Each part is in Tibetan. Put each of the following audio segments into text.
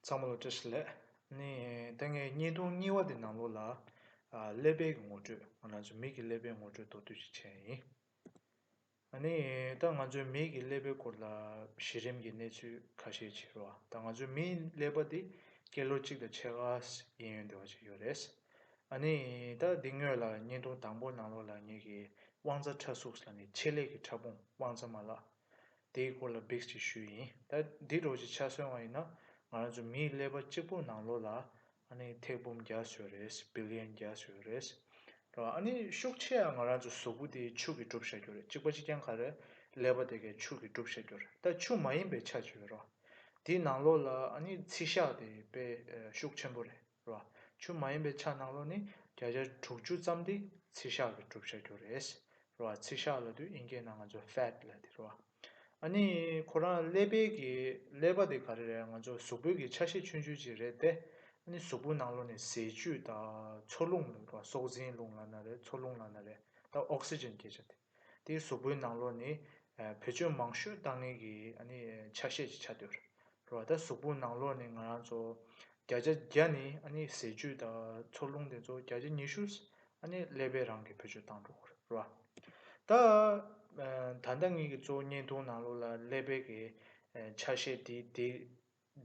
ཚང་མ་ལ་བཀྲ་ཤིས་ལད། ནི། ད་ངའི་བརྙན་ཐུང་རྙིང་བ་དེ་ནང་ལོགས་ལ། ཀླད་པའི་གི་ངོ་སྤྲོད། ང་ཚོའི་མིག་གི་ཀླད་པའི་ངོ་སྤྲོད་མདོར་བསྡུས་ཅིག་བྱས་ཡིན། ནི། ད་ང་ཚོའི་མིག་གི་ཀླད་པའི་སྐོར་ལ། གཞི་རིམ་གི་གནས་ཚུལ་ཁ་ཤས་བྱེད་རོགས། ད་ང་ཚོའི་མིའི་ཀླད་པ་དེ། ཀེ་ལོ་གཅིག་དང་ཕྱེད་ཀ། ཡན་ཡོད་འདི་བ་ཅིག་ཡོད་རེད། ནི། ད་འདི་དངོས་ལ་བརྙན་ཐུང་དང་པོ་ནང་ལོགས་ལ་ངེད་ཀྱི། དབང་རྩ་ཁྲ་གཟུགས་ལ་ནི་ཆེད་ལས་ཀྱི་ཕྲ་ཕུང་དབང་རྩ་མ་ལགས། དེའི་སྐོར་ལ་འབིགས་ཅིག་ཞུས་ཡིན། ད་འདི་གྲོགས་ཀྱི་ཆ་སོན་བ་ཡིན་ན། ང་རང་ཚོ་མིའི་ཀླད་པ་གཅིག་པོ་ནང་ལོགས་ལ། ཨ་ནི་ཐེག་འབུམ་བརྒྱ་ཟོས་རེད། Billion བརྒྱ་ཟོས་རེད། རེད་བ། ཨ་ནི་ཤུགས་ཆེ་ཡང་ང་རང་ཚོ་གཟུགས་པོ་དེ་ཕྱུགས་ཀྱིས་གྲུབ་བཞག་རྒྱུ་རེད་གཅིག་པ་གཅིག་རྐྱང་ག་རེད། ཀླད་པ་དེ་གས་ཕྱུགས་ཀྱིས་གྲུབ་བཞག་རྒྱུ་རེད་ད་ཕྱུགས་མ་ཡིན་པའི་ཆ་ཇི་ཡོད་རེད་བ། དེའི་ནང་ལོགས་ལ་ཨ་ནི་ཚིལ་ཞགས་དེ་དཔེ་ཤུགས་ཆེན་པོ་རེད། ལ། ཆུ་མ་ཡིན་པའི་ཆ་སྣང་རོ་ནི་བརྒྱ་ཆ་དྲུག་ཅུ་ཙམ་དེ་ཚིལ་ཤག་གི་གྲུབ་ཆ་གྱུར་རེད། རོ་ཨ་ཚིལ་ཤག་ལ་དུས་དབྱིན་སྐད་ནང་ང་ཚོ Fat ལ་དེ་རོ་ཨ། ཨ་ནི་ཁོ་རང་ཀླད་དཔལ་གྱི་ཀླད་པ་དེ་ག་རེ་རེད་ང་ཚོ་གཟུགས་པོད་ཀྱི་ཆ་ཤས་ཆུན་ཆུན་ཅིག་རེད་དེ། ཨ་ནི་གཟུགས་པོའི་ནང་ལོ་ནི་ཟས་བཅུད་དང་འཚོ་རླུང་རེད་རོ་ཨ་སྲོག་འཛིན་རླུང་ལ་ན་རེད་འཚོ་རླུང་ལ་ན་རེད་དང Oxygen སྐད་ཆ་དེ། དེའི་གཟུགས་པོའི་ནང་ལོགས་ནི། བུ་ཆོས་མང་ཤོས་བཏང་ངེས་ཀྱི་ཆ་ཤས་ཀྱི་ཆ་སྟོད། རོ། ད་གཟུགས་པོའི་ནང་ལོགས་ནི་ང་རང་ཚོ། བརྒྱ་ཆ་བརྒྱ་ནི་ཟས་བཅུད་དང་འཚོ་རླུང་དེ་ཚོ་བརྒྱ་ཆ་ཉི་ཤུ། ཀླད་པའི་རང་གི་བུ་ཆོས་བཏང་འགྲོ། རོ། ད། ད་ལྟ་ངེད་ཀྱི་གཙོ་བོ་བརྙན་ཐུང་ནང་ལོགས་ལ་ཀླད་པའི་གི་ཆ་ཤས་དེའི་དེ།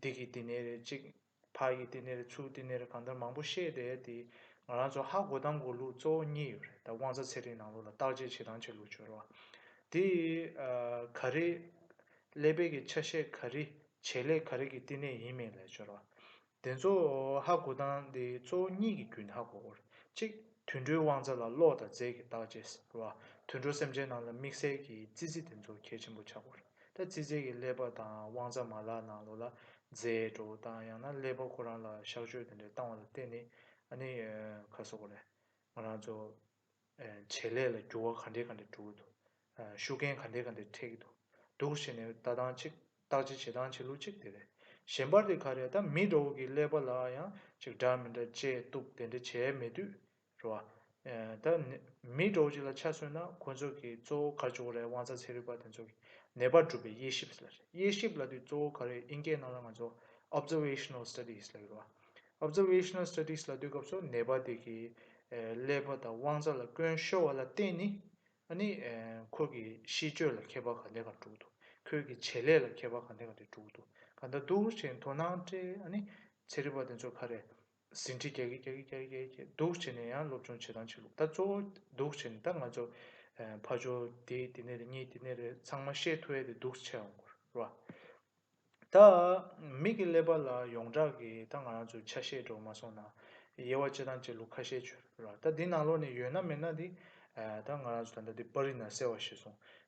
འདི་གི་དེ་ནས་རེད་ཅིག་ཕར་གྱི་དེ་ནིར་ཚུར་དེ་ནིར་གང་ལྟར་མང་པོ་བཤད་དེ་དེ་ང་རང་ཚོ་ཧ་གོ་དང་གོ་ལུགས་གཙོ་བོ་གཉིས་ཡོད་རེད་ད་དབང་རྩ་ཚེ་རིང་ནང་ལོགས་ལ་བརྟག་དཔྱད་བྱེད་དང་བྱེད་ལུགས་བྱོས་རོགས་དེ་ག་རེ། ཀླད་དཔལ་གྱི་ཆ་ཤས་ག་རེ་བྱེད་ལས་ག་རེ་གྱི་བསྟི་གནས་ཡིན་མིན་ལས་བྱོས་རོགས་དེ་ཚོ་ཧ་གོ་དང་དེ་གཙོ་བོ་གཉིས་ཀྱི་རྒྱུན་ཧ་གོ་རོགས་གཅིག་དུད་འགྲོའི་དབང་རྩ་ལ་ཀློག་དང་རྫས་ཀྱི་བརྟག་དཔྱད་རོགས་དུད་འགྲོ་སེམས་ཅན་རྣམས་ལ་དམིགས་བསལ་གྱི་རྩི་རྩི་དེ་ཚོ་གལ་ཆེན་པོ་ཆག་གོ་རོགས། ད་ཙི་ཙི་གི་ཀླད་པ་དང་དབང་རྩ་མ་ལག་ནང་ལོག་ལ་རྫས་འགྲོ་དང་ཡང་ན་ཀླད་པ་ཁོ་རང་ལ་གཤག་བཅོས་དེ་འདྲས་བཏང་བ་ལ་བརྟེན་ནས་ཨ་ནི་ཁ་གསོ་གོ་རེ། ང་རང་ཚོ་བྱེད་ལས་ལ་འགྱུར་བ་ག་འདྲས་ག་འདྲས་འགྲོ་གི་འདུག་ཤུགས་རྐྱེན་ག་འདྲས་ག་འདྲས་འཕྲད་ཀྱི་འདུག་འདུག་བྱས་ནས་ལྟ་སྟངས་གཅིག་བརྟག་དཔྱད་བྱེད་སྟངས་བྱེད་ལུགས་གཅིག་དེ་རེད། གཞན་པར་དེ་ག་རེད་ད་མི་དགྲ་བོ་གི་ཀླད་པ་ལ་ཡང་ཅིག་འདྲ་མི་འདྲ་དཔྱད་གཏུགས་དེ་འདྲས་བྱས་མེད་དུས་རེད་བ། ད། མིའི་གྲོགས་གཅིག་ལ་ཆ་མཚོན་ན་ཁོ་ཚོ་གི་གཙོ་བོ་ག་ཅོག་རེད་དབང་རྩ་ཚེ་རིག་པ་དེ་ཚོ་གི་ནད་པར་གྲུབ་པའི་དབྱེ་ཞིབ་ལ་རེད་དབྱེ་ཞིབ་ལ་དུས་གཙོ་བོ་ག་རེད་དབྱིན་སྐད་ནང་ལ་ང་ཚོ Observational Studies ལ་ཡོད་རེད་བ། Observational Studies ལ་སྡོད་སྐབས་སུ་ནད་པ་དེ་གི་ཀླད་པ་དང་དབང་རྩ་ལ་སྐྱོན་ཤོར་བ་ལ་བརྟེན་ནི་ནི་ཁོ་གི་གཤིས་སྤྱོད་ལ་ཁྱད་པར་ག་འདྲ་ག་འགྲོ་གི་འདུག་ཁོའི་གི་བྱེད་ལས་ལ་ཁྱད་པར་ག་འདྲ་ག་འདྲ་འགྲོ་གི་འདུག་ག་འདྲ་འདུག་ཅེས་དོ་སྣང་སྤྲད་ནི་ཚེ་རིག་པ་དེ་ཚོ་ག་རེད་ཟིན་བྲིས་རྒྱག་གི་རྒྱག་གི་རྒྱག་གི་རྒྱག་གི་སྡུག་བྱས་ནས་ཡང་སློབ་སྦྱོང་བྱེད་སྟངས་ཆགས་ལུགས་ད་གཙོ་བོ་སྡུག་བྱས་ནས་ད་ང་ཚོ་ཕ་ཇོ་དེ་དེ་ནས་རེད་གཉིས་དེ་ནས་རེད་ཚང་མ་ཤེས་ཐུབ་ཡས་དེ་སྡུག་ཆེ་ཡོང་གོ་རེད་བ། ད་མིག་གི་ཀླད་པ་ལ་ཡོངས་གྲགས་ཀྱི་ད་ང་རང་ཚོའི་ཆ་ཤས་འགྲོ་མ་སོང་ན་དབྱེ་བ་བྱེད་སྟངས་བྱེད་ལུགས་ཁ་ཤས་བྱོས་རེད་བ། ད་འདི་ནང་ལོགས་ནས་ཡོད་ན་མེད་ན་དེ་ད་ང་རང་ཚོ་ད་ལྟ་དེ་པར་རིས་ན་གསལ་བ་ཤེས་སོང་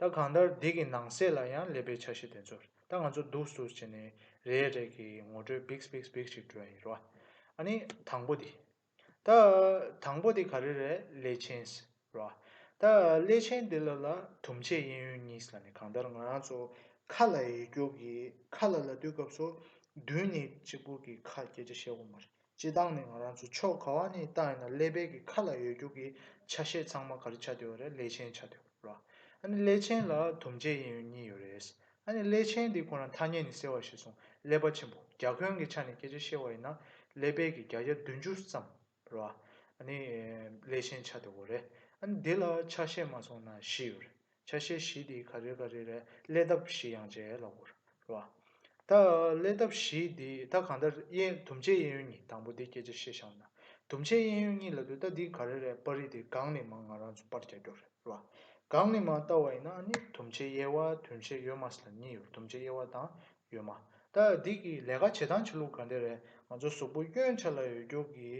ད་གང་ལྟར་སྡིག་གི་ནང་གསེས་ལ་ཡང་སླེབས་པའི་ཆ་གཞི་དེ་ཚོར་ད་ང་ཚོ་འདུག་ཟུར་བྱས་ནས་རེ་རེ་གི་ངོ་སྤྲོད་བིགས་བིགས་བིགས་ཤིག་སྤྲོད་ཡིན་རོ། ཨ་ནི་དང་པོ་དེ། ད། དང་པོ་དེ་ག་རེ་རེད་ཀླད་ཆེན། རོ། ད་ཀླད་ཆེན་དེ་ལ་ལ་དུམ་ཆད་གཡས་གཡོན་གཉིས་ལ་ནི་གང་ལྟར་ང་རང་ཚོ་ཁ་ལ་ཡི་རྒྱོགས་ཀྱིས་ཁ་ལ་ལ་ལྟོས་སྐབས་སོ་བདུན་ནས་གཅིག་པུ་གི་ཁ་སྐད་ཆ་བཤད་དགོས་མ་རེད། སྤྱི་བཏང་ནི་ང་རང་ཚོ་ཕྱོགས་ག་བ་ནས་བཏང་ཡིན་ན་ཀླད་པད་ཀྱི་ཁ་ལ་ཡོད་རྒྱུག་གི་ཆ་ཤས་ཚང་མ་ག་རེ་ཆ་དེ་བ་རེད་ཀླད་ཆེན་ཆ་དེ་བ་རེད། ཨ་ནི་ཀླད་ཆེན་ལ་དུམ་བརྒྱད་གཡས་གཡོན་གཉིས་ཡོད་རེད། ཨ་ནི་ཀླད་ཆེན་དེ་ཁོ་ན་ཐ་སྙད་ནི་གསལ་བར་བཤད་སོང་ཀླད་པ་ཆེན་པོ་རྒྱ་ཁོན་གྱི་ཆ་ནས་སྐད་ཆ་བཤད་བ་ཡིན་ན་ཀླད་པད་ཀྱི་རྒྱ་རྒྱ་བདུན་ཅུ་ཙམ་རེད། ཨ་ནི་ཀླད་ཆེན་ཆ་དེ་བ་རེད། ཨ་ནི་དེ་ལ་ཆ་ཤས་མ་སོང་ན་བཞི་ཡོད་རེད། ཆ་ཤས་བཞི་དེའི་ག་རེ་ག་རེ་རེད་ཀླད་སྟབས་བཞི་ཡང་བྱས་ལ་བོར་རེད་བ། ད་ཀླད་སྟབས་བཞི་དེ་ད་གང་ལྟར་དབྱེ་དུམ་བཅད་དབྱེ་ཡུལ་གཉིས་དང་པོ་དེ་སྐད་ཆ་ཤེས་ཤག་ན་དུམ་བཅད་དབྱེ་ཡུལ་གཉིས་ལ་དུས་ད་འདི་ག་རེ་རེད་པར་རིས་དེ་སྒང་ནས་མང་ང་རང་ཚོ་པར་རྒྱག་རྒྱོག་རེད་བ། སྒང་ནས་མང་བལྟ་བ་ཡིན་ན་ནི་དུམ་བཅད་དབྱེ་བ་དུམ་བཅད་ཡོད་མ་སྲིད་ལ་གཉིས་ཡོད་དུམ་བཅད་དབྱེ་བ་དང་ཡོད་མ་ད་འདི་གི་ལས་ཀ་བྱེད་སྟངས་ཆ་ལུགས་ག་འདྲ་རེད་ང་ཚོ་གཟུགས་པོ་གཡོན་ཆ་ལ་ཡོད་རྒྱུ་གི་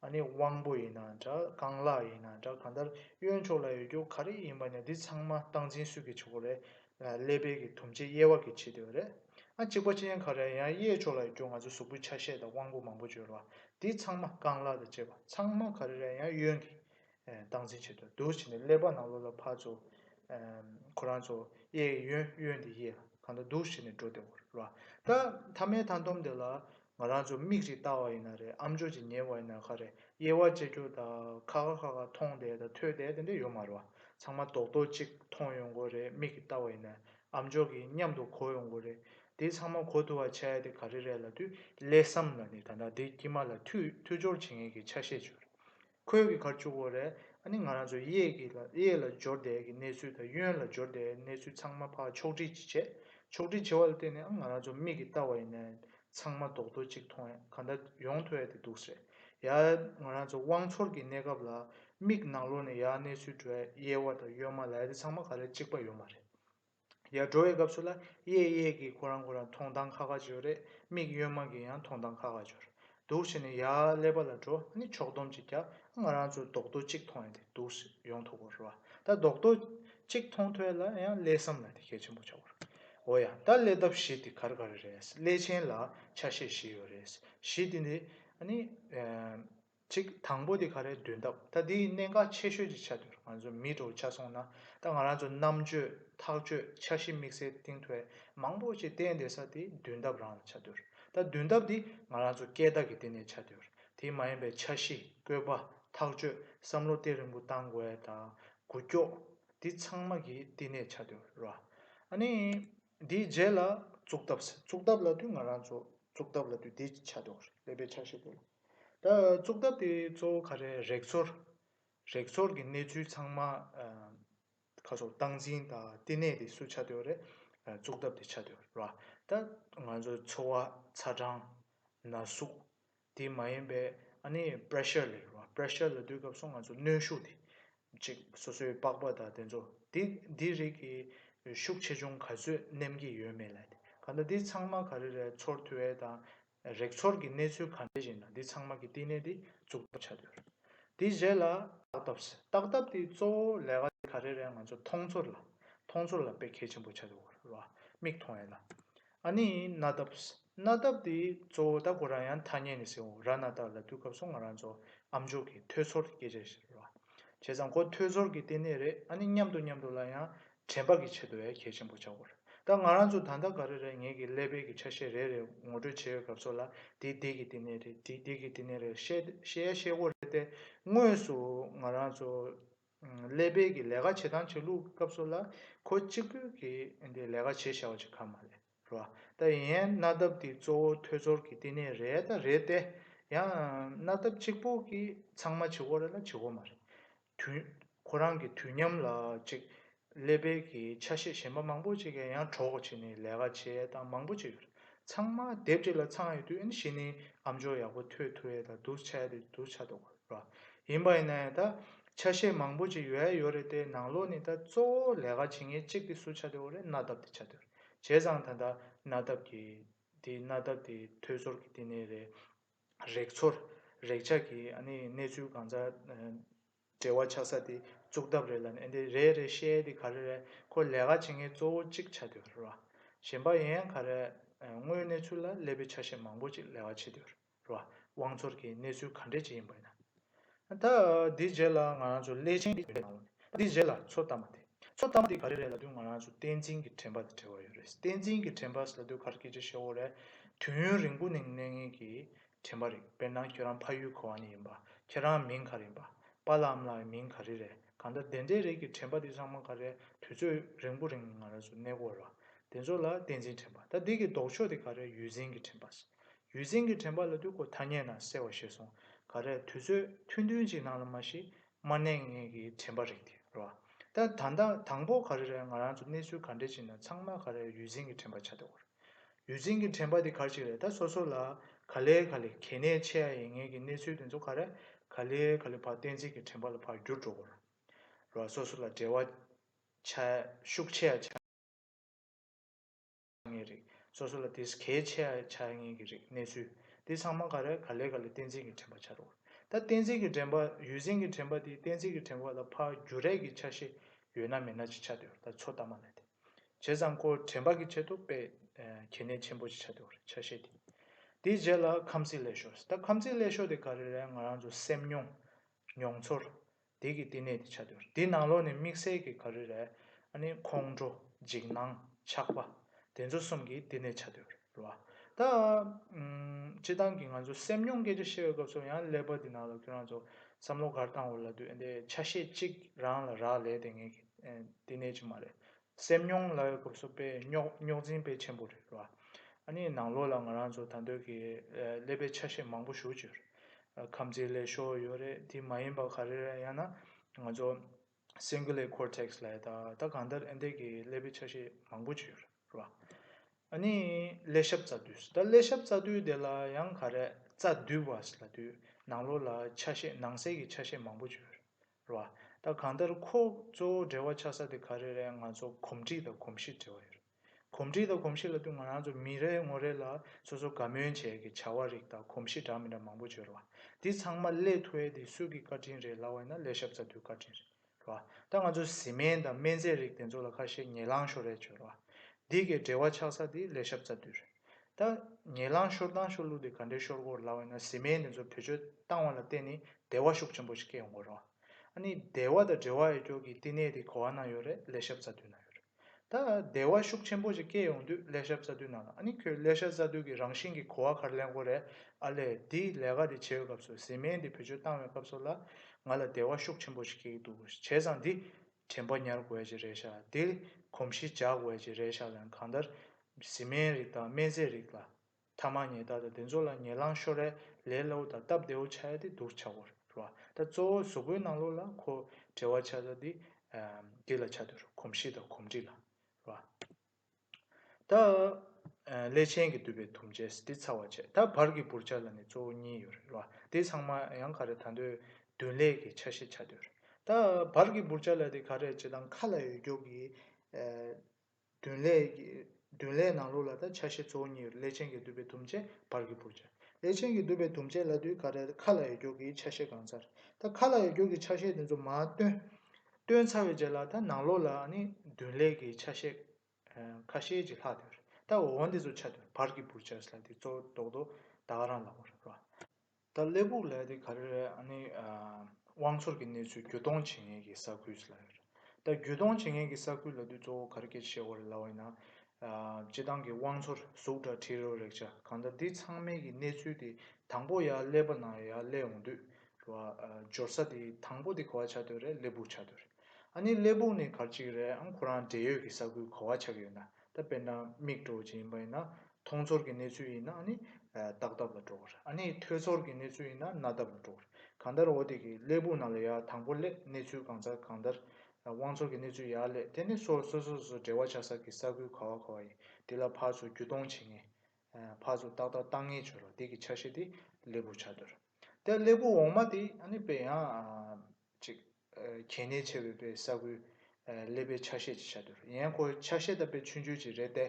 ཨ་ནི་དབང་པོ་ཡིན་ན་འདྲ་རྐང་ལག་ཡིན་ན་འདྲ་ག་འདར་གཡོན་ཕྱོགས་ལ་ཡོད་རྒྱུ་ག་རེ་ཡིན་པ་ནི་འདི་ཚང་མ་སྟངས་འཛིན་སུས་ཀྱི་བྱེད་སྒོ་རེད་ཀླད་པའི་གི་དུམ་ཆེ་དབྱེ་བ་གི་བྱེད་དུས་རེད་ཨ་གཅིག་པ་ཅན་ག་རེ་ཡང་གཡས་ཕྱོགས་ལ་ཡོད་རྒྱུ་ང་ཚོ་གཟུགས་པོའི་ཆ་ཤས་དང་དབང་པོ་མང་པོ་བརྗོད་ལ་འདི་ཚང་མ་རྐང་ལག་དང་བཅས་པ་ཚང་མ་ག་རེ་རེད་ཡང་གཡོན་གི་སྟངས་འཛིན་བྱེད་དུ་འདུག་བྱས་ནས་ཀླད་པ་ནང་ལོགས་ལ་ཕར་ཚུར། ཁོ་རང་ཚོ་གཡས་གཡོན་གཡོན་དེ་གཡས་ལ་གང་ལྟར་འདུག་བྱས་ནས་འགྲོ་བདེ་བོར་རོ། ད་མཐའ་མའི་མཐའ་འདོམས་དེ་ལ་ང་རང་ཚོ་མིག་ཅིག་བལྟ་བ་ཡིན་ན་རེད་ཨམ་ཅོག་ཅིག་ཉན་བ་ཡིན་ན་ཁ་རེད་དབྱེ་བ་དཔྱད་རྒྱུ་དང་ཁ་ཁ་ཁ་ཁ་མཐོང་བསྡད་དང་ཐོས་བསྡད་དེ་འདྲ་ཡོད་མ་རེད་བ། ཚང་མ་རྡོག་རྡོག་ཅིག་མཐོང་ཡོང་དགོས་རེད་མིག་གིས་བལྟ་བ་ཡིན་ན་ཨམ་ཅོག་གིས་མཉམ་དུ་གོ་ཡོང་དགོས་རེད། དེ་ཚང་མ་གོ་ཐུབ་བ་བྱ་ཡ་དེ་ག་རེ་རེད་ལ་དུས་ཀླད་སམ་ལ་ནི་ད་ལྟ་འདི་དཀྱིས་མ་ལ་མཐུད་སྦྱོར་བྱེད་མཁན་གྱི་ཆ་ཤས་བྱུང་རེད། ཁོལ་གྱི་ཁར་བཅུག་གོ་རེ་ཨ་ནི་ང་རང་ཚོ་གཡས་ཀྱི་ལ་གཡས་ལ་སྦྱོར་བསྡད་ཀྱི་གནས་ཚུལ་དང་གཡོན་ལ་སྦྱོར་བསྡད་གནས་ཚུལ་ཚང་མ་ཕར་ཕྱོགས་བསྒྲིགས་ཅིག་བྱས་ཕྱོགས་བསྒྲིགས་བྱས་བ་ལ་བརྟེན་ནས་ཨ་ང་རང་ཚོ་མིག་གིས་བལྟ་བ་ཡིན་ནའི་ཚང་མ་རྡོག་རྡོག་ཅིག་མཐོང་ཡ་ག་འདྲ་ཡོང་ཐུ་ཨེ་དེ་འདུག་ཟེར་ཡ་ང་རང་ཚོ་དབང་འཚོར་གྱི་གནས་སྐབས་ལ་མིག་ནང་ལོག་ནས་ཡ་གནས་ཚུལ་བྲོས་གཡས་བ་དང་གཡོན་མ་ལ་ཡ་དེ་ཚང་མ་ག་རེ་གཅིག་པ་ཡོད་མ་རེད། ཡར་འགྲོ་བའི་སྐབས་སུ་ལ་གཡས་གཡས་ཀྱིས་ཁོ་རང་ཁོ་རང་མཐོང་སྟངས་ཁ་ཁ་བྱོས་རེད་མིག་གཡོན་མ་གིས་ཡང་མཐོང་སྟངས་ཁ་ཁ་བྱོས་རེདའདུག་བྱས་ནས་ཡར་ཀླད་པ་ལ་འགྲོ་ནི་ཕྱོགས་བསྡོམས་ཅིག་རྒྱབ་ཨ་ང་རང་ཚོས་རྡོག་རྡོ་གཅིག་མཐོང་ཡ་དེ་འདུག་ཡོང་ཐུབ་དགོས་རེད་བ་ད་རྡོག་རྡོ་གཅིག་མཐོང་ཐོས་ལ་ཡང་ཀླད་བསམ་ལ་དེ་གལ་ཆེན་པོ་ཆགས་དགོས་རེད་འོ་ཡ་ད་ཀླད་སྟབས་བཞི་དེ་གར་ག་རེ་རེད་ཀླད་ཆེན་ལ་ཆ་ཤས་བཞི་ཡོད་རེད་བཞི་དེ་འདི་ཨ་ནི། གཅིག་དང་པོ་དེ་ག་རེ་འདོན་སྟབས་ད་འདི་གནད་འགག་ཆེ་ཤོས་ཀྱི་ཆ་དེར་ང་ཚོ་མིད་དྲོ་ཆགས་སོང་ན་ད་ང་རང་ཚོ་རྣམ་དཔྱོད་ཐག་གཅོད་འཆར་གཞི་དམིགས་བསལ་གཏིང་ཐོས་མང་པོ་ཞིག་བསྟན་བསྡད་ས་དེ་འདོན་སྟབས་རང་ལ་ཆ་དོར་ད་འདོན་སྟབས་འདི་ང་རང་ཚོ་སྐད་བརྡ་གི་དེ་ནས་ཆ་དོར་དེ་མ་ཡིན་པའི་འཆར་གཞི་བཀོད་པ་ཐག་གཅོད་བསམ་བློ་གཏད་རིང་པོ་བཏང་དགོས་དང་དགུ་སྐྱོགས་འདི་ཚང་མ་གི་དེ་ནས་ཆ་དོར་ར་ཨ་ནི། དེའི་རྗེས་ལ་གཙུག་ཐབས་ཟེར་གཙུག་ཐབས་ལ་དུས་ང་རང་ཚོ་གཙུག་ཐབས་ལ་དུས་དེ་ཆ་འཇོག་རེད་ཀླད་པའི་ཆ་ཤས་དེ་ལ། ད་གཙུག་ཐབས་དེ་གཙོ་བོ་ག་རེ་རེག་ཚོར། རེག་ཚོར་གྱི་གནས་ཚུལ་ཚང་མ་ཁ་སོར་བཏང་འཛིན་དང་བསྟི་གནས་དེ་སུ་ཆ་འདོད་རེད་གཙུག་ཐབས་དེ་ཆ་འདོད་རེད་ར། ད་ང་ཚོའི་འཚོ་བ་ཚ་གྲང་ན་ཟུག་དེ་མ་ཡིན་པའི་ཨ་ནི Pressure ལས་རུང་བ Pressure ལ་སྡུད་སྐབས་སུ་ང་ཚོ་གནོན་ཤུགས་དེ་གཅིག་སོ་སོའི་པགས་པ་དང་དེ་ཚོ་དེ་འདི་རིགས་ཀྱི་ཤུགས་ཆེ་ཆུང་ག་ཚོད་བསྣན་གྱི་ཡོད་མེད་ལ་ལྟོས་ག་ལ་འདི་ཚང་མ་ག་རེ་རེད་ཚོར་ཐུ་ཨེ་དང་རེག་ཚོར་གྱི་གནས་ཚུལ་ག་འདྲ་ཞིག་ན་འདི་ཚང་མ་གྱི་བསྟི་གནས་དེ་བཙུགས་ཐབས་བྱ་འདོད་དེའི་རྗེས་ལ་བརྟག་ཐབས་བརྟག་ཐབས་དེའི་གཙོ་བོ་ལས་ཀ་དེ་ག་རེ་རེད་ང་ཚོ་མཐོང་ཚོར་ལ་མཐོང་ཚོར་ལ་དཔེ་གལ་ཆེན་པོ་བྱ་འདོད་རུང་བ་མིག་མཐོང་ཨེ་ལ་ཨ་ནི་ན་ཏབས། ན་ཏབས་དེ་གཙོ་བོ་ད་གོ་རང་ཡང་ཐ་སྙད་ནི་སེའོ་ར་ན་ཏར་ལ་དུས་སྐབས་སུ་ང་རང་ཚོ་ཨ་མཆོག་གིས་ཐོས་ཚོར་སྐད་ཆ་ཞིག་རེད་བ། བྱས་ཙང་ཁོ་ཐོས་ཚོར་གི་ལྟེ་གནས་རེད་ཨ་ནི་མཉམ་དུ་མཉམ་དུ་ལ་ཡང་དྲན་པ་གི་ཆེད་དུ་ཡ་གྱལ་ཆེན་པོ་བྱ་དགོས་རེད་ད་ང་རང་ཚོ་ད་ལྟ་ག་རེ་རེད་ངེད་ཀྱི་ཀླད་པའི་གི་ཆ་ཤས་རེ་རེ་ངོ་སྤྲོད་བྱེད་ཡོད་སྐབས་སུ་ལ་དེ་དེ་གི་ལྟེ་གནས་རེད་དེ་དེ་གི་ལྟེ་གནས་རེད་ཤེས་ཤེས་ཡ་ཤེས་དགོས་རེད་ཏེ་དངོས་སུ་ང་རང་ཚོ། ཀླད་པའི་གི་ལས་ཀ་བྱེད་སྟངས་བྱེད་ལུགས་སྐབས་སུ་ལ་ཁོ་གཅིག་པོས་གི་འདི་ལས་ཀ་བྱེད་ཤའོ་བྱེད་ཁ་མ་ལེ་རོ་ད་ཡན་གནའ་དབབ་འདི་གཙོ་བོ་ཐོས་ཚོར་གི་བསྟི་གནས་རེད་ད་རེད་ཏེ་ཡང་གནའ་དབབ་གཅིག་པོ་གི་ཚང་མ་བྱེད་ཁོ་རེ་ལ་བྱེད་ཁོ་མ་རེད་དུས་ཁོ་རང་གི་དུས་མཉམ་ལ་ཅིག་ཀླད་པའི་གི་ཆ་ཤས་གཞན་པ་མང་པོ་ཅིག་གི་ཡང་གྲོགས་བྱས་ནས་ལས་ཀ་བྱས་ཡས་དང་མང་པོ་ཅིག་ཡོད་རེད་ཚང་མ་དེབ་ཅིག་ལ་ཚང་ཡོད་དུས་ཨེ་ནི་གཞི་ནས་ཨམ་ཅོག་ཡག་པོ་ཐོད་ཐུ་ཡས་དང་དུར་ཆ་ཡས་དེ་དུར་ཆ་དོག་རེད་རོ་ཡིན་པ་ཡིན་ན་ཡང་ད་ཆ་ཤས་མང་པོ་ཅིག་ཡོད་ཡས་ཡོད་རེད་དེ་ནང་ལོགས་ནས་ད་གཙོ་བོ་ལས་ཀ་བྱེད་མཁན་ཅིག་དེ་སུ་ཆ་དེ་འོ་རེད་གནའ་དབབ་དེ་ཆ་དེ་རེད་བྱས་ཙང་ད་ད་གནའ་དབབ་གི་དེ་གནའ་དབབ་དེ་ཐོད་ཚོར་གི་དེ་ནས་རེད་རེག་ཚོར་རེག་བྱ་གི་ཨ་ནི་གནས་ཚུལ་གང་ཟག་བྲེལ་བ་ཆགས་ས་དེ་རྩུག་ཐབས་རེད་ལ་ནས་འདི་རེད་རེད་ཤེས་དེ་ག་རེ་རེད་ཁོ་ལས་ཀ་བྱེད་མཁན་གཙོ་བོ་གཅིག་ཆགས་འདུག་ར་གཞན་པ་ཡང་ག་རེ་དངོས་གནས་ཚུལ་ལ་སླེབས་པའི་ཆ་ཤས་མང་པོ་ཅིག་ལས་ཀ་བྱེད་འདུག་ར་དབང་ཚོར་གྱི་གནས་ཚུལ་ག་འདྲས་ཅིག་ཡིན་པ་ཡིན་ན་ད་འདི་རྗེས་ལ་ང་རང་ཚོ་སླད་ཕྱིན་གྱི་ཡོད་ནང་ལོ་ནས་འདི་རྗེས་ལ་ཚོ་ལྟ་མ་དེ་ཚོ་ལྟ་མ་དེ་ག་རེ་རེད་ལ་དུས་ང་རང་ཚོ་བསྟན་འཛིན་གྱི་དྲན་པ་དེ་བྲལ་བ་ཡོད་རེད་བསྟན་འཛིན་གྱི་དྲན་པ་ཟེར་ལ་དུས་གར་སྐད་ཆ་ཤོ་བོ་རེད་དུས་ཡུན་རིང་པོ་ནས་གནས་ངེས་ཀྱི་དྲན་པ་རེད་དཔེར་ན་ཁྱོད་རང་ཕ་ཡུལ་གོ་བ་ནས་ཡིན་པ་ཁྱེད་རང་མིང་ག་རེ་ཡིན་པ་པ་ལའམ་ལའི་མིང་ག་རེ་རེད་གང་ལྟར་དེ་འདྲའི་རིགས་ཀྱི་དྲན་པ་འདི་ཚང་མ་ག་རེ་དུས་ཚོད་རིང་པོ་རིང་ང་རང་སུ་གནས་སྐོར་ལ་དེ་ཚོ་ལ་བསྟན་འཛིན་དྲན་པ་ད་འདི་གི་ལྡོག་ཕྱོགས་དེ་ག་རེ་ཡུལ་འཛིན་གྱི་དྲན་པ་ཡུལ་འཛིན་གྱི་དྲན་པ་ལ་དུས་འཁོར་ཐ་སྙད་ནང་གསལ་བ་ཤེས་སོང་ག་རེ་དུས་ཚོད་ཐུང་ཐུང་ཅིག་ནང་ལ་མ་ཤི་མར་གནས་ངེས་ཀྱི་དྲན་པ་རིགས་དེ་རོ་ད་ད་ལྟ་དང་པོ་ག་རེ་རེད་ང་རང་ཚོ་གནས་ཚུལ་ག་འདྲ་ཅིག་ན་ཚང་མ་ག་རེ་ཡུལ་འཛིན་གྱི་དྲན་པ་ཆགས་ཏེ་འོར། ཡུལ་འཛིན་གྱི་དྲན་པ་དེ་གར་ཞིག་རེད་ད་སོ་སོ་ལ་ག་ལེ་ག་ལེ་གལ་གནད་ཆེ་ཡ་ཡིན་ངེས་ཀྱི་གནས་ཚུལ་དེ་ཚོ་ག་རེ་ག་ལེ་ག་ལེ་བར་གཏན་ཚིགས་ཀྱི་དྲན་པ་ལ་བར་འགྱུར་འགྲོ་གོ་ར་སོ་སོ་ལ་འབྲེལ་བ་ཆ་ཤུགས་ཆེ་ཡ་ཆགས་ངེས་རེད་སོ་སོ་ལ་དེས་གལ་ཆེ་ཡ་ཆགས་ངེས་ཀྱི་རེད་གནས་ཚུལ་དེ་ཚང་མ་ག་རེ་ག་ལེ་ག་ལེ་གཏན་ཚིགས་ཀྱི་དྲན་པ་ཆགས་འགྲོ་གོ་ར་ད་གཏན་ཚིགས་ཀྱི་དྲན་པ་ཡུལ་འཛིན་གྱི་དྲན་པ་དེ་གཏན་ཚིགས་ཀྱི་དྲན་པ་ལ་བར་འགྱུར་རེག་གི་ཆ་ཤས་ཡོད་ན་མེད་ན་ཅིག་ཆགས་འདོད་ད་ཚོ་ལྟ་མ་ལེ་དེ། བྱས་ཙང་ཁོ་དྲན་པ་གི་ཆེད་དུ་དཔེ་གལ་གནད་ཆེན་པོ་ཞིག་ཆགས་འདུག་རེད་ཆ་ཤས་དེ། དེའི་རྗེས་ལ་ཁམས་སྲིད་ལས་ཤོར་ཟེར་ད་ཁམས་སྲིད་ལས་ཤོར་དེ་ག་རེ་རེད་ང་རང་ཚོ་སེམས་མྱོང། མྱོང་ཚོར། དེ་གི་བསྟི་གནས་དེ་ཆགས་འདུག་རེད་དེ་ནང་ལོགས་ནས་དམིགས་བསལ་གི་ག་རེ་རེད་ཨ་ནི་ཁོང་ཁྲོ། འཇིགས་སྣང། ཆགས་པ། དེ་ཚོ་གསུམ་གི་བསྟི་གནས་ཆགས་འདུག་རེད། རེད་བ། ད། སྤྱི་བཏང་གི་ང་ཚོ་སེམས་མྱོང་སྐད་ཆ་བཤད་པའི་སྐབས་སུ་ཡང་ཀླད་པ་འདི་ནང་ལ་ཁྱོད་རང་ཚོ་བསམ་བློ་གར་བཏང་འོས་ལ་དུས་འདི་ཆ་ཤས་གཅིག་རང་ལ་རག་ལས་དེ་ངས་དེ་ནས་ཅིག་མ་རེད། སེམས་མྱོང་ལ་ཡོད་སྐབས་སུ་དཔེ་རྙོག་རྙོག་འཛིན་དཔེ་ཆེན་པོ་རེད་བ། ཨ་ནི་ནང་ལོགས་ལ་ང་རང་ཚོ་ད་འདོད་ཀྱི་ཀླད་པའི་ཆ་ཤས་མང་པོ་ཞུགས་ཀྱི་ཡོད་རེད། ཁམས་ཚིག་ལས་ཤོར་ཡོད་རེད་དེ་མ་ཡིན་པ་ག་རེ་རེད་ཡང་ན་ང་ཚོ Cingulate Cortex། ལས་ད་ལྟ་གང་ལྟར་ཨེ་འདས་ཀྱི་ཀླད་པའི་ཆ་ཤས་མང་པོ་བྱས་ཡོད་རེད་བ། ཨ་ནི་ཀླད་ཞབས་རྩ་མདུད། ད་ཀླད་ཞབས་རྩ་མདུད་དེ་ལ་ཡང་ག་རེ་རྩ་མདུད་བ་ཞིག་ལ་དུས་ནང་ལོགས་ལ་ཆ་ཤས་ནང་གསལ་གྱི་ཆ་ཤས་མང་པོ་བྱས་ཡོད་རེད་བ། ད་གང་ལྟར་ཁོ་གཙོ་བོ་འབྲེལ་བ་ཆགས་ས་དེ་ག་རེ་རེད་ང་ཚོ་གོམས་འདྲིས་དང་གོམས་གཤིས་འབྲེལ་བ་ཡོད་རེད། གོམས་འདྲིས་དང་གོམས་གཤིས་ལ་བསྟུན་ང་རང་ཚོ་མི་རེ་ངོ་རེ་ལ་སོ་སོ་དགའ་མོས་བྱས་ཀྱི་བྱ་བ་རིགས་དང་གོམས་གཤིས་འདྲ་མི་འདྲ་མང་པོ་བརྗོད་ར་བ། འདི་ཚང་མ་སླེ་ཐུ་ཨེ་དེ་སུད་ཀྱི་བཀའ་དྲིན་རེད་ལབ་བ་ཡིན་ན་སླེ་ཤབ་ཚ་དུའི་བཀའ་དྲིན་རེད་ར་བ། ད་ང་ཚོ་གཟི་མེན་དང་སྨན་རྫས་རིགས་དེ་ཚོ་ལ་ཁ་ཤས་ཉེ་ལང་ཤོར་རེད་བརྗོད་ར་བ། འདི་གའི་འབྲེལ་བ་ཆགས་ས་དེ་སླེ་ཤབ་ཚ་དུས་རེད། ད། ཉེ་ལང་ཤོར་སྟངས་ཤོར་ལུགས་དེ་ག་འདྲའི་ཤོར་གོ་ལབ་བ་ཡིན་ན་གཟི་མེན་དེ་ཚོ་བེད་སྤྱོད་བཏང་བ་ལ་བརྟེན་ནས་བདེ་བ་ཤུགས་ཆེན་པོ་ཞིག་སྐྱེ་ཡོང་གོ་ར་བ། ཨ་ནི་བདེ་བ་དང་འབྲེལ་བ་ཡོད་སྐྱོར་གྱི་བསྟི་གནས་དེ་གོ་བ་ན་ཡོད་རེད་སླེ་ཤབ་ཚ་དུས་ན་ཡོད་རེད། ད་བདེ་བ་ཤུགས་ཆེན་པོ་ཞིག་སྐྱེས་ཡོང་དུས་ཀླད་ཤ་བཙའ་དུས་ན་ཨ་ནི་ཁྱོད་ཀླད་ཤ་བཙའ་དུས་ཀྱི་རང་བཞིན་གྱི་གོ་བ་གར་ལེན་གོ་རེ་ཨ་ལས་འདི་ལས་ཀ་འདི་བྱེད་ཡོད་སྐབས་སུ་ཟི་མེད་འདི་བེད་སྤྱོད་བཏང་བའི་སྐབས་སུ་ལ་ང་ལ་བདེ་བ་ཤུགས་ཆེན་པོ་ཞིག་སྐྱེ་གི་འདུག་བྱས་ཙང་འདི་དྲན་པ་ཉར་དགོས་ཀྱི་རེད་ཤག་འདི་གོམས་གཤིས་འཇགས་དགོས་ཀྱི་རེད་ཤག་ལན་གང་ལྟར་ཟི་མེད་རིགས་དང་སྨན་རྫས་རིགས་ལ། ཐ་མ་ཉེས་བརྡ་དང་དེ་ཚོ་ལ་ཉེས་ལངས་ཤོར་རས་ལས་སླ་བོ་དང་སྟབས་བདེ་བོ་ཆགས་ཡ་དེ་འདུག་བྱ་བར་རོ། ད་གཙོ་བོ་གཟུགས་པོའི་ནང་ལོགས་ལ་ཁོ་བྲེལ་བ་ཆགས་ས་དེ་འདི་ལ་ཆགས་འདུག་རོ་གོམས་གཤིས་དང་གོམས་འདྲིས་ལ་རོ། ད་ཀླད་ཆེན་གྱི་དུད་པའི་དུམ་རྗེས་དེ་ཚ་བར་བྱེད། ད་བར་གྱི་བུར་ཆ་ལ་ནི་གཙོ་བོ་གཉིས་ཡོད་རེད་རོ། དེ་ཚང་མ་ཡང་ག་རེ་ད་འདོད་བདུན་ལས་ཀྱི་ཆ་ཤས་ཆགས་འདུག་རོ། ད་བར་གྱི་བུར་ཆ་ལ་དེ་ག་རེ་བྱེད་དང་མཁའ་ལ་ཡོད་མགྱོགས་ཀྱི། བདུན་ལས། བདུན་ལས་ནང་ལུགས་ལ་དང་ཆ་ཤས་གཙོ་བོ་གཉིས་ཡོད་ལས་ཅན་གྱི་བསྡུས་པའི་དུམ་བཅད་བར་གྱི་བུར་བྱ། ལས་ཅན་གྱི་བསྡུས་པའི་དུམ་བཅད་ལ་དུས་ག་རེར་ཁ་ལ་ཡོད་རྒྱུགས་ཀྱི་ཆ་ཤས་གང་ཚར་དང་ཁ་ལ་ཡོད་རྒྱུགས་ཀྱི་ཆ་ཤས་དེ་ཚོ་མ་བཏོན། བཏོན་ཚར་བའི་རྗེས་ལ་དང་ནང་ལུགས་ལ་ནི་བདུན་ལས་ཀྱི་ཆ་ཤས་ཁ་ཤས་ཀྱི་ལྷག་དོན་རེད། ད་འོ་འདི་ཚོ་ཆ་དོན་བར་གྱི་བུར་བྱས་ལ་དེ་གཙོ་བོ་རྡོག་རྡོག་ད་ག་རང་ལ་བོར་རེད་བ། ད་སླེ་སྦུག་ལ་དེ་ག་རེ་རེད་ཨ་ནི། དབང་ཚོར་གྱི་གནས་ཚུལ་བརྒྱུད་གཏོང་བྱེད་མཁན་གྱི་ས་ཁུལ་ལ་རེད། ད་བརྒྱུད་གཏོང་བྱེད་མཁན་གྱི་ས་ཁུལ་ལ་དུས་གཙོ་བོ་ག་རེ་སྐད་ཤེས་བ་རེད་ལབ་བ་ཡིན་ན། སྤྱི་བཏང་གི་དབང་ཚོར་གཟུགས་འདྲ་ཁྲི་རོ་རེག་བྱ་གང་འདྲ་འདི་ཚང་མའི་གི་གནས་ཚུལ་དེ་དང་པོ་ཡ་སླེ་པ་ན་ཡ་སླེ་འོང་དུས། གི་བ་འབྱོར་ས་དེ་དང་པོ་དེ་ག་བ་ཆགས་འདོད་རེད་སླེ་སྦུག་ཆགས་འདོད་རེད། ཨ་ནི་སླེ་སྦུག་ནི་ག་རེ་ཅིག་རེད་ཨང་ཁོ་རང་འབྲེལ་ཡོད་གི་ས་ཁུལ་ག་བ་ཆགས་ཡོད་ན། ད་དཔེར་ན་མིག་གྲོ་བཅས་ཡིན་པ་ཡིན་ན་མཐོང་ཚོར་གྱི་གནས་ཚུལ་ཡིན་ན་ནི་རྟགས་ཐབས་ལ་འགྲོ་གི་རེད་ཨ་ནི་ཐོས་ཚོར་གྱི་གནས་ཚུལ་ཡིན་ན་རྣ་ཐབས་ལ་འགྲོ་གི་རེད་གང་ལྟར་འོ་དེ་གི་སླད་བུ་ན་ལ་ཡ་དང་པོ་སླད་གནས་ཚུལ་གང་ཚར་གང་ལྟར་དབང་ཚོར་གྱི་གནས་ཚུལ་ཡ་སླད་དེ་ནི་སོ་སོ་སོ་སོ་འབྲེལ་བ་ཆགས་ས་གི་ས་ཁུལ་ག་བ་ག་བ་ཡིན་དེ་ལ་ཕར་ཚུར་རྒྱུ་གཏོང་བྱེད་ངེས་ཕར་ཚུར་ཏག་ཏག་བཏང་ངེས་བྱོས་རོགས་དེ་གི་ཆ་ཤས་དེ་སླད་བུ་ཆ་དོར་དེ་སླད་བུ་འོག་མ་དེ་ཨ་ནི་དཔེ་ཡང་གཅིག། གལ་གནད་ཆེ་བའི་པའི་ས་ཁུལ། ཀླད་པའི་ཆ་ཤས་ཀྱི་ཆ་དུར་ཡན་ཁོ་ཆ་ཤས་དང་པའི་ཆུ་འཇུ་བྱེད་རེད་ཏེ།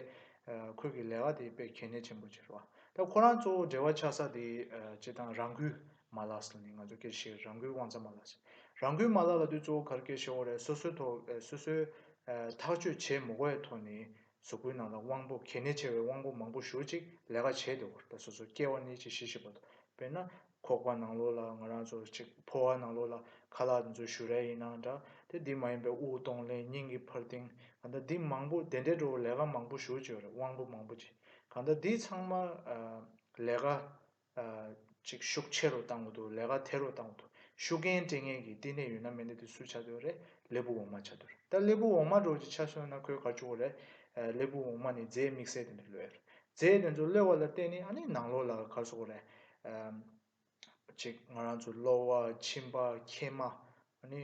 ཁོས་ཀྱི་ལས་ཀ་དེ་པའི་གལ་གནད་ཆེན་པོ་ཆེ་རུ་བ། ད་ཁོ་རང་གཙོ་བོ་འབྲེལ་བ་ཆགས་ས་དེ་སྤྱིར་བཏང་རང་འགུལ་མ་ལག་ཟེར་ནས་ང་ཚོ་ཀེར་ཤེར་རང་འགུལ་དབང་རྩ་མ་ལག་ཟེར། རང་འགུལ་མ་ལག་ལ་དུས་གཙོ་བོ་གར་ཀེར་ཤེར་འོག་རེད་སོ་སོའི་ཐོག་སོ་སོའི་ཐག་གཅོད་བྱེད་མུག་བའི་ཐོག་ནས་གཟུགས་པོའི་ནང་ལ་དབང་པོ་གལ་གནད་ཆེ་བའི་དབང་པོ་མང་པོ་བཞུར་ཅིག་ལས་ཀ་བྱེད་དེ་འོར་ད་སོ་སོར་སྐྱེ་བ་གནས་གཅིག་གཞི་ཞིག་པ་དང་དཔེར་ན་ཁོག་པ་ནང་ལོགས་ལ་ང་རང་ཚོ་གཅིག་ཕོ་བ་ནང་ལོགས་ལ་ཁ་ལག་འདི་ཚོ་བཞུར་རན་ཡིན་ན་འདྲ་དེ་འདི་མ་ཡིན་པའི་དབུགས་གཏོང་ལེན་སྙིང་གི་འཕར་ལྡིང་གང་ད་འདི་མང་པོ་དེ་འདྲའི་འགྲོ་བ་ལས་ཀ་མང་པོ་བཞུར་ཅིག་རེད་དབང་པོ་མང་པོ་ཅིག་གང་ད་འདི་ཚང་མ་ལས་ཀ་ཅིག་ཤུགས་ཆེ་རུ་བཏང་གོ་ཐུབ་ལས་ཀ་འཐད་རུ་བཏང་གོ་ཐུབ་ཤུགས་རྐྱེན་སྤྲད་མཁན་གྱི་བསྟི་གནས་ཡོད་ན་མི་འདི་དེ་སུ་ཆ་སྡོད་རེད་ལེ་བུ་འོག་མ་ཆ་སྡོད་རེད་ད་ལེ་བུ་འོག་མ་འགྲོ་ཅིག་ཆ་སོན་ན་ཁོའི་གར་ཆུ་བོ་རེད་ལེ་བུ་འོག་མ་ནི་རྫས་དམིགས་བསལ་དེ་འདྲ་ལོས་རེད་རྫས་དེ་ཚོ་གློད་བ་ལ་བརྟེན་ནི་ཨ་ནི་ནང་ལོགས་ལ་གར་སོག་རེད། ཅིག་ང་རང་ཚོ་གློ་བ་མཆིན་པ་མཁལ་མ་ནི།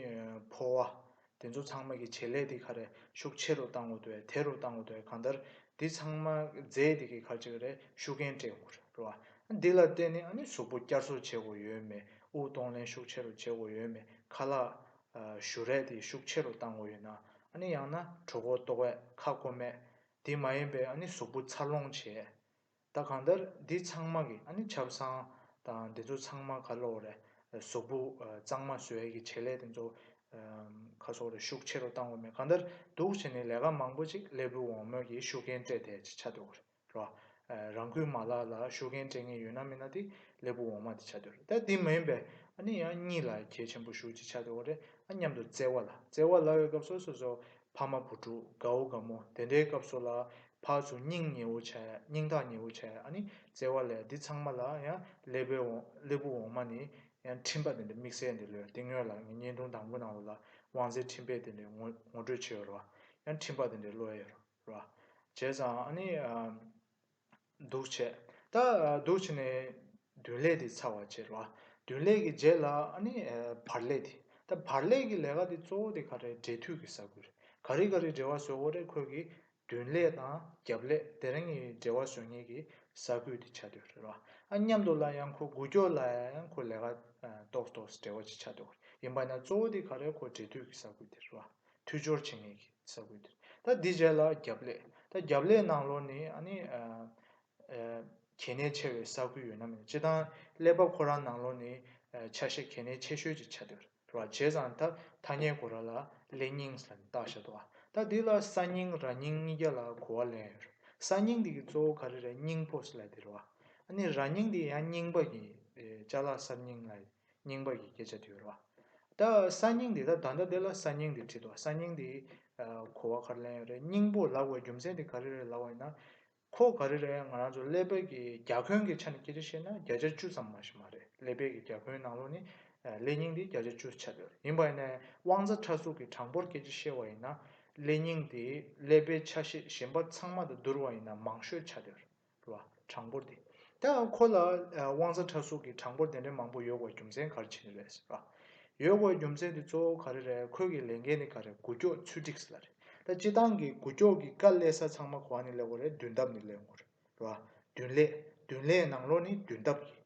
འཕོ་བ། དེ་ཚོ་ཚང་མ་གི་བྱེད་ལས་དེ་ག་རེད་ཤུགས་ཆེ་རུ་བཏང་འོ་དོད་དེ་རུ་བཏང་འོ་དོད་གང་ལྟར་དེ་ཚང་མ་རྫས་དེ་གི་ག་ཅིག་རེད་ཤུགས་རྐྱེན་སྤྲད་དགོས་རེད་ར་བ། དེ་ལ་བརྟེན་ནས་ནི་གཟུགས་པོ་བསྐྱར་གསོ་བྱེད་དགོས་ཡོད་མེད་དབུགས་གཏོང་ལེན་ཤུགས་ཆེ་རུ་བྱེད་དགོས་ཡོད་མེད་ཁ་ལག་བཞུ་རས་དེ་ཤུགས་ཆེ་རུ་བཏང་འོ་ཡོད་ན་ནི་ཡང་ན་གྲོ་གོ་ལྟོ་བས་ཁ་སྐོ་མེད་དེ་མ་ཡིན་པས་ནི་གཟུགས་པོ་འཚར་ལོངས་བྱེད། ད་གང་ལྟར་འདི་ཚང་མ་གི་ཨ་ནི་ཆབ་གསང་དང་འདི་ཚོ་ཚང་མ་ཁ་ལོ་རེད་ཟོག་པུ་གཙང་མ་བཟོས་གི་བྱེད་ལས་དེ་ཚོ་ཁ་སོག་རེད་ཤུགས་ཆེ་རུ་བཏང་དགོས་མེད་གང་ལྟར་སྡུག་ཆེ་ནི་ལས་ཀ་མང་པོ་ཅིག་སླེ་བུ་འོང་མོད་ཀྱི་ཤུགས་རྐྱེན་སྤྲད་དེ་ཅི་ཆ་འདོད་རོ། རང་ཁུལ་མ་ལག་ལ་ཤུགས་རྐྱེན་སྤྲད་ངེས་ཡོད་ན་མིན་ན་དེ་སླེ་བུ་འོང་མ་དེ་ཆ་འདོད་རེད་ད་དེ་མིན་པས་ཨ་ནི་ཡང་གཉིས་ལ་གལ་ཆེན་པོ་ཞུགས་ཅི་ཆ་འདོད་རེད་ཨ་མཉམ་དུ་བརྩེ་བ་ལ་བརྩེ་བ་ལ་ཡོད་སྐབས་སོ་སོ་སོ་ཕ་མ་བུ་ཕྲུག་དགའ་བོ་དགའ་མོ་དེ་འདྲའི་སྐབས་སུ་ལ་ཕག་ཆུ་སྙིང་ཉེ་བོ་བྱས་སྙིང་ཐག་ཉེ་བོ་བྱས་ཨ་ནི་བརྩེ་བ་ལས་འདི་ཚང་མ་ལ་ཡང་སླེ་བོའི་འོང་སླེ་བུ་འོང་མ་ནི་ཡང་འཕྲིན་པ་དེ་འདྲའི་དམིགས་བསལ་འདི་ལོས་དེ་སྔོན་ལ་ངས་བརྙན་ཐུང་དང་པོ་ནང་ལོ་ལ་དབང་ཟེར་འཕྲིན་པས་དེ་འདྲའི་ངོ་ངོ་སྤྲོད་བྱས་ཡོད་རེད་བ། ཡང་འཕྲིན་པ་དེ་འདྲའི་ལོས་ཡོད་རེད་བ། བྱས་ཙང་ཨ་ནི། འདུ་བྱེད་དག། འདུ་བྱེད་ནི། བདུན་ལས་དེ་ཚར་བར་བྱེད་རོ། བདུན་ལས་ཀྱི་རྗེས་ལ་ནི། བར་ལས་དེ། ད་བར་ལས་ཀྱི་ལས་ཀ་དེ་གཙོ་བོ་དེ་ག་རེ་འབྲས་དུས་ཀྱི་ས་དགུ་རེ། ག་རེ་ག་རེ་འབྲེལ་བ་བཟོ་དགོས་རེ་ཁོད་ཀྱི། བདུན་ལས་དང་རྒྱབ་ལས་དེ་རིང་ནི་འབྲེལ་བ་བཟོ་ངེས་ཀྱི་ས་དགུ་དེ་ཆ་དོད་རེ་རོ། ཨ་མཉམ་དུ་ལ་ཡང་ཁོ་དགུ་སྐྱོར་ལ་ཡང་ཁོ་ལས་ཀ། གཏོགས་གཏོགས་སུ་འབྲེལ་བ་ཅིག་ཆ་དོད་རེ་ཡིན་པ་ན་གཙོ་བོ་དེ་ག་རེ་ཁོ་འབྲས་དུས་ཀྱི་ས་དགུ་དེ་རེ་རོ། མཐུད་སྦྱོར་བྱེད་ངེས་ཀྱི། ས་ཁུལ་དེ་ད་འདི་བྱས་ལ་རྒྱབ་ལས་ད་རྒྱབ་ལས་ནང་ལོར་ནི་ཨ་ནི་གལ་གནད་ཆེ་བའི་ས་ཁུལ་ཡོད་ན་མེད་སྤྱི་བཏང་ཀླད་པ་ཁོ་རང་ནང་ལོར་ནི་ཆ་ཤས་གལ་གནད་ཆེ་ཤོས་ཅིག་ཆགས་འདུག་ར་བྱས་ཙང་ད་ཐ་སྙད་གོ་ར་ལ་ཀླད་རྙིང་ཟེར་ནས་བཏགས་བཞག་འདུག་ཨ་ད་འདི་ལ་ས་རྙིང་ར་རྙིང་གཉིས་ཀ་ལ་གོ་བ་ལེན་ཡོད་རེད་ས་རྙིང་འདི་གི་གཙོ་བོ་ག་རེ་རེད་རྙིང་ཕོ་སི་ལ་དེ་རེད་བ་ཨ་ནི་ར་རྙིང་འདི་ཡང་རྙིང་པ་གི་ལྕགས་ལ་གསར་རྙིང་ལ་ཡིན་རྙིང་པ་ཡི་གེ་བྱ་དུས་རོ། ད་ས་སྙིང་འདི་ད་ད་འདི་ལ་ས་སྙིང་འདི་བྲིས་འདུག་ས་སྙིང་འདི་གོ་བ་གར་ལེན་ཡོད་རེད་སྙིང་པོ་ལགས་བའི་རྒྱུ་མཚན་དེ་ག་རེ་རེད་ལབ་བ་ཡིན་ན། ཁོ་ག་རེ་རེད་ང་རང་ཚོ་ཀླད་པད་ཀྱི་རྒྱ་ཁོན་གྱི་ཆ་ནས་སྐད་ཆ་བཤད་ན་བརྒྱ་ཆ་བཅུ་ཙམ་མ་ཞིག་མ་རེད་ཀླད་པད་ཀྱི་རྒྱ་ཁོན་ནང་ལོགས་ནི་ཀླད་སྙིང་འདི་བརྒྱ་ཆ་བཅུ་ཆ་ཡོད་རེད་ཡིན་པ་ཡིན་ན་དབང་རྩ་ཕྲ་གཟུགས་ཀྱི་གྲངས་འབོར་སྐད་ཆ་བཤད་བ་ཡིན་ན་ཀླད་སྙིང་འདི་ཀླད་པའི་ཆ་ཤས་གཞན་པ་ཚང་མ་དང་བསྡུར་བ་ཡིན་ན་མང་ཤོས་ཆ་ཡོད་རེད། རུ་བ། གྲངས་འབོར་འདི། དེའང་ཁོ་ལ། དབང་རྩ་ཕྲ་སུག་གི་གྲངས་འབོར་དེ་འདྲའི་མང་པོ་ཡོད་དགོས་རྒྱུ་མཚན་ག་རེ་བྱས་ནས་རེད། རུ་བ། ཡོད་དགོས་རྒྱུ་མཚན་དེ་གཙོ་བོ་ག་རེ་རེད་ཁོས་ཀྱི་ལས་འགན་ནི་ག་རེ་གུ་སྐྱོག་ཚུལ་སྒྲིགས་ལ་རེད། ད་སྤྱི་ཏང་གི་གུ་སྐྱོག་གི་དཀའ་ལས་ས་ཚང་མ་གོ་བ་ནི་ལས་འགོ་རེད་མདུན་ཐབས་ནི་ལས་འགོ་རེད། རུ་བ། མདུན་ལས། མདུན་ལས་ནང་ལོག་ནི་མདུན་ཐབས་ཡིན།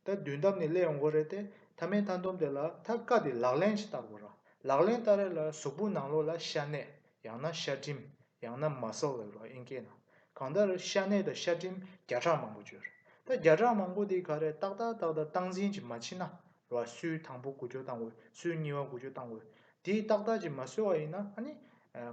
ད་མདུན་ཐབས་ནི་ལས་འགོ་རེད་དེ། ཐ་མའི་མཐའ་འདོམས་དེ་ལ་ཐ་དཀའ་དེ་ལག་ལེན་ཅིག་བསྟར་དགོས་ར། ལག་ལེན་བསྟར་རེ་ལ་གཟུགས་པོ་ནང་ལོག་ལ་ཤ་གནད། ཡང་ན་ཤ་གྲིམ། ཡང་ན་མ་སོགས་ལ་རོ་ཨེན་སྐྱེས་ན། གང་ལྟར་ཤ་གནད་དང་ཤ་གྲིམ་བརྒྱ་ཕྲག་མང་པོ་བཅོས། ད་བརྒྱ་ཕྲག་མང་པོ་དེ་ག་རེ་ཏག་ཏག་ཏག་ཏག་སྟངས་འཛིན་གྱིས་མ་ཕྱིན་ན། རོ་ཨ་སུའི་དང་པོ་དགུ་སྐྱོ་བཏང་འོས་སུའི་གཉིས་བ་དགུ་སྐྱོ་བཏང་འོས། དེས་ཏག་ཏག་ཅིག་མ་གསོས་བ་ཡིན་ན་ཨ་ནི།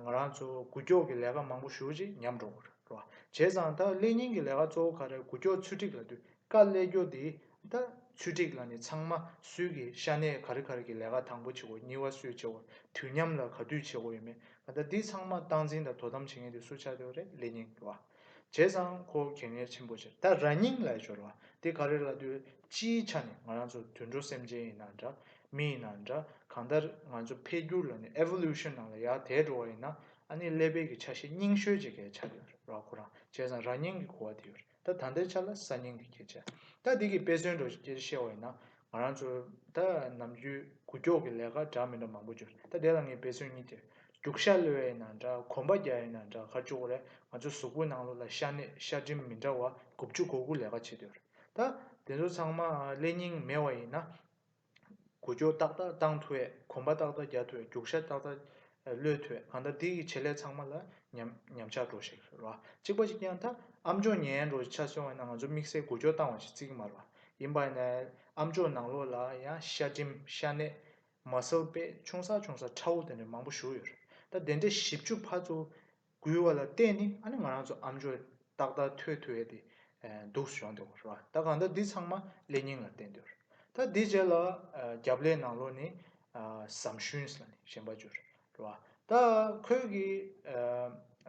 ང་རང་ཚོ་དགུ་སྐྱོ་གི་ལས་ཀ་མང་པོ་ཞུ་ཅིག་ཉམས་འགྲོ་གི་རེད་རོ་ཨ་བྱས་ཙང་ད་ཀླད་རྙིང་གི་ལས་ཀ་གཙོ་བོ་ག་རེ་དགུ་སྐྱོ་ཚུལ་ཁྲིགས་ལ་དུས་བཀག་ཀླད་སྐྱོ་དེའི་ད་ཚུལ་སྒྲིག་ལ་ནི་ཚང་མ་སུས་ཀྱི་ཤ་གནད་ག་རི་ག་རི་གི་ལས་ཀ་དང་པོ་བྱེད་དགོས་གཉིས་བ་སུས་བྱེད་དགོས་དུས་མཉམ་ལ་ག་དུས་བྱེད་དགོས་ཡོད་མེད་ད་འདི་ཚང་མ་བཏང་འཛིན་དང་དོ་དམ་བྱེད་མཁན་དེ་སུ་ཆགས་ཡོད་རེད་ལེ་སྙིང་བ་བྱས་ཙང་ཁོ་གད་ངལ་ཆེན་པོ་ཆེ་ད་ར་སྙིང་ལ་སྦྱོར་བ་དེ་ག་རེ་ལ་དུས་སྤྱིའི་ཆ་ནས་ང་རང་ཚོ་དུད་འགྲོ་སེམས་ཅན་ཡིན་ན་འདྲ་མི་ཡིན་ན་འདྲ་གང་ལྟར་ང་ཚོ་འཕེལ་འགྱུར་ལ་ནི Evolution ནང་ལ་ཡར་དལ་འགྲོ་བ་ཡིན་ན་ཨ་ནི་ཀླད་པའི་གི་ཆ་ཤས་སྙིང་ཤོས་ཅིག་གས་ཆགས་ཡོད་རེད་ར་ཁོ་རང་བྱས་ཙང་ར་སྙིང་གི་གོ་བ་དེ་ཡོད་རེད་ད་ད་ལྟའི་ཆ་ལ་གསར་རྙིང་གི་སྐད་ཆ་ད་འདི་གི་དཔེ་མཚོན་དུ་བཤད་བ་ཡིན་ན་ང་རང་ཚོ་ད་ནམ་རྒྱུན་གུ་ཀྱོག་གི་ལས་ཀ་འདྲ་མི་འདྲ་མང་པོ་འབྱོར་ད་དེ་ལ་ངས་འབད་བརྩོན་གཉིས་ཏེ་རྒྱུག་ཤ་གློད་ཡས་ན་འདྲ་གོམ་པ་རྒྱག་ཡས་ན་འདྲ་ག་ཅོག་རེ་ང་ཚོ་གཟུགས་པོའི་ནང་ལོགས་ལ་ཤ་གནད་ཤ་གྲིམ་མི་འདྲ་བ་དགུ་བཅུ་གོ་དགུ་ལས་ཀ་བྱེད་འདོད་རེད་ད་དེ་ཚོ་ཚང་མ་ཀླད་རྙིང་མེད་བ་ཡིན་ན། དགུ་སྐྱོར་ཏག་ཏག་བཏང་ཐུ་ཨེ་གོམ་པ་ཏག་ཏག་རྒྱག་ཐུ་ཨེ་རྒྱུག་ཤ་ཏག་ཏག་གློད་ཐུ་ཨེ་གང་ལྟར་འདི་ཡི་བྱེད་ལས་ཚང་མ་ལ་ཉམས་ཆག་འགྲོ་ཞིག་རེད་བ་གཅིག་པ་ཞིག་ཀྱང་ད་ཨ་མཆོག་ཉན་ཡན་འགྲོ་ཆ་སོང་བས་ན་ང་ཚོ་དམིགས་བསལ་དགུ་སྐྱོར་བཏང་བ་ཞིག་རྩིག་མར་བ་ཡིན་པ་ནས་ཨ་མཆོག་ནང་ལོགས་ལ་ཡང་ཤ་འགྲིམ་ཤ་གནས་མ་སལ་པས་ཆུང་ས་ཆུང་ས་ཁྲ་བོ་དེ་འདྲ་མང་པོ་བཞུགས་ཡོད་རེད་ད་དེ་འདྲའི་བཞི་བཅུ་ཕ་ཚོ་འགུལ་བ་ལ་བརྟེན་ནས་ཨ་ནི་ང་རང་ཚོ་ཨམ་ཆོས་ཏག་ཏག་ཐོས་ཐུབ་ཡས་དེ་འདུག་བཞོན་འདུག་རེད་བ་ད་གང་ལྟར་འདི་ཚང་མ་ཀླད་རྙིང་ལ་བརྟེན་འདུག་ད་འདི་རྗེས་ལ་རྒྱབ་ཀླད་ནང་ལོག་ནས་ཟམ་ཤུན་ལ་ནས་ཞེན་པ་བརྗོད་རེད་བ་ད་ཁོས་ཀྱི་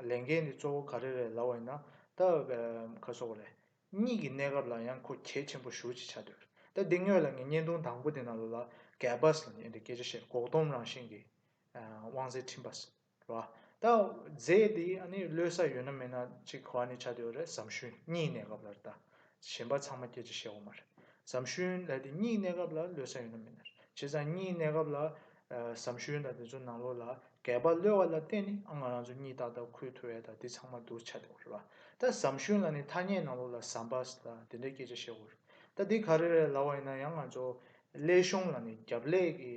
ལས་འགན་འདི་གཙོ་བོ་ག་རེ་རེད་ལབ་བ་ཡིན་ན་ད་ཁ་སོག་རེད་གཉིས་ཀྱི་གནས་སྐབས་ལ་ཡང་ཁོ་གལ་ཆེན་པོ་ཞུ་ཅིག་བྱ་འདོད་རེད་ད་འདི་དངོས་ལ་ངས་བརྙན་ཐུང་དང་པོ་དེ་ནང་ལོག་ལ་གད་པ་ལ་ནས་འདི་སྐད་ཆ་བཤད་འགོག་སྡོམ་རང་བཞིན་གྱི་དབང་ཟེར་ཁྲིམས་པ་ཟེར། བ། ད་རྫས་དེ་ལོས་ས་ཡོད་ན་མེད་ན་གཅིག་གོ་བ་ནི་ཆ་དེའོ་རེད་བསམ་ཤུན་གཉིས་གནས་སྐབས་ལ་རེད་གཞན་པ་ཚང་མ་སྐྱེ་འཆི་ཤེས་བ་མ་རེད་བསམ་ཤུན་ལ་དེ་གཉིས་གནས་སྐབས་ལ་ལོས་ས་ཡོད་ན་མེད་ན་རེད་བྱས་ཙང་གཉིས་གནས་སྐབས་ལ་བསམ་ཤུན་དང་དེ་ཚོ་ནང་ལོགས་ལ་གས་པ་ལོས་བ་ལ་བརྟེན་ནི་ང་རང་ཚོ་གཉིས་ཏག་ཏག་ཁུལ་དུ་བས་ད་དེ་ཚང་མ་འདུག་ཆ་དེའོ་རེད་བ། ད་བསམ་ཤུན་ལ་ནི་ཐ་སྙད་ནང་ལོགས་ལ་བསམ་པ་ལ་དེ་འདྲའི་སྐྱེ་འཆི་ཤེས་བ་རེད་ད་དེ་ག་རེ་རེད་ལ་བ་ཡིན་ན་ཡང་ང་ཚོ་ཀླད་གཞུང་ལ་ནི་རྒྱབ་ཀླད་ཀྱི་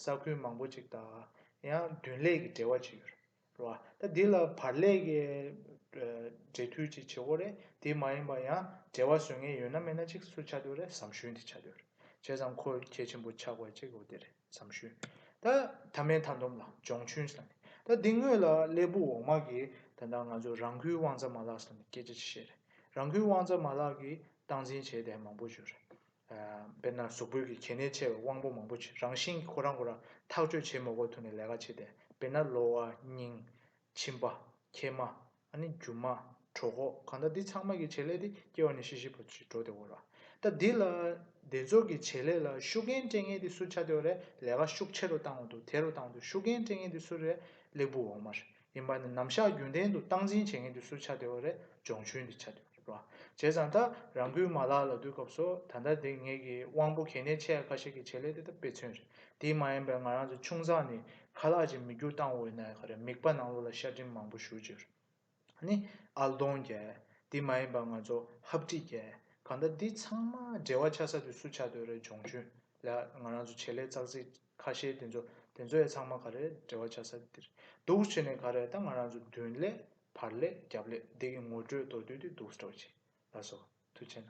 ས་ཁུལ་མང་པོ་ཅིག་དང་ཡང་བདུན་ལས་ཀྱི་འབྲེལ་བ་བྱེད་རྒྱུ་རེད། ད་འདི་ལ་བར་ལས་ཀྱི་འབྲེལ་མཐུད་ཅིག་བྱེད་དགོས་རེད། དེ་མ་ཡིན་པར་ཡང་འབྲེལ་བ་བཟོས་ངེས་ཡོད་ན་མེད་ན་ཅིག་སུ་ཆགས་འདོད་རེད་བསམ་ཤུལ་འདི་ཆགས་འདོད་རེད། བྱས་ཙང་ཁོ་གལ་ཆེན་པོ་ཆགས་དགོས་ཅིག་འོ་དེ་རེད་བསམ་ཤུལ། ད་ད་མའི་མཐའ་འདོམས་ལ་སྦྱོང་ཆུན་ཟེར་ནས་ད་འདི་དངོས་ལ་ཀླད་པོ་འོག་མ་གིས་ད་ད་ང་ཚོ་རང་ཁུལ་དབང་རྩ་མ་ལག་ཟེར་ནས་སྐད་ཆ་ཅིག་བཤད་རེད། རང་ཁུལ་དབང་རྩ་མ་ལག་གིས་སྟངས་འཛིན་བྱས་ཏེ་མང་པོ་བྱོས་རེད། དཔེར་ན་གཟུགས་པོད་ཀྱི་གལ་གནད་ཆེ་བའི་དབང་པོ་མང་པོ་རང་བཞིན་གྱིས་ཁོ་རང་ཁོ་རང་ཐག་གཅོད་བྱེད་མི་དགོས་ཐུག་ནས་ལས་ཀ་བྱེད་དེ་དཔེར་ན་གློ་བ། སྙིང། མཆིན་པ། མཁལ་མ། ཨ་ནི་རྒྱུ་མ། གྲོ་གོག་གང་དག་འདི་ཚང་མ་གྱི་བྱེད་ལས་དེ་སྐྱེ་བ་ནས་ཤི་ཤི་བར་ཞིག་འགྲོ་བདེ་བོ་ར། ད་འདི་ལ། དེ་ཚོ་གྱི་བྱེད་ལས་ལ་ཤུགས་རྐྱེན་སྤྲད་ངེས་དེ་སུ་བྱ་བདེ་བ་རེད་ལས་ཀ་ཤུགས་ཆེ་རུ་བཏང་བ་འདུག་དེ་རུ་བཏང་དུ་ཤུགས་རྐྱེན་སྤྲད་ངེས་དེ་སུ་རེད་ལེགས་པོ་འོང་མ་རེད། ཡིན་པ་ནི་ནམ་བཞག་རྒྱུན་ལྡན་དུ་སྟངས་འཛིན་བྱེད་མཁན་དུས་སུ་ཆ་དེ་བ་རེ་སྦྱོང་ཆུན་དུ་ཆ་དེ་བ་རེ་བྱས་ཙང་ད་རང་ཁུལ་མ་ལག་ལ་བསྡུ་སྐབས་སུ་ད་ལྟ་དེ་ངེད་ཀྱི་དབང་པོ་གལ་གནད་ཆེ་ཡ་ཁ་ཤས་ཀྱི་བྱེད་ལས་དེ་ད་དཔེ་མཚོན་རེད་དེའི་མ་ཡིན་པའི་ང་རང་ཚོ་ཆུང་ཙང་ནས་ཁ་ལག་ཅིག་མི་འགྱུར་སྟངས་འོད་ན་ཡ་ཁ་རེད་མིག་པ་ནང་ལོག་ལ་ཤ་གྲིམ་མང་པོ་བཞུར་རྗེས་རེད་ནི་ཨལ་གདོང་རྒྱལ་དེ་མ་ཡིན་པ་ང་ཚོ་ཧབ་སྤྲི་རྒྱལ་གང་ད་འདི་ཚང་མ་འབྲེལ་བ་ཆ་ས་དུས་སུ་ཆ་དེ་བ་རེ་སྦྱོང་ཆུན་ལ་ང་རང་ཚོ་བྱེད་ལས་ཙག་ཙིག་ཁ་ཤས་དེ་ཚོ་དེ་ཚོ་ཡ་ཚང་མ་ག་རེད་འབྲེལ་བ་ཆ་ས་དེ་རེད་འདུག་བྱས་ནས་ག་རེད་ད་ང་རང་ཚོ་མདུན་ལས་བར་ལས་རྒྱབ་ལས་འདི་གི་ངོ་སྤྲོད་མདོ་བསྡུས་དེ་འདུག་སྤྲོ་བྱས་ལ་སོ་ཐུ་ཆེ་ན།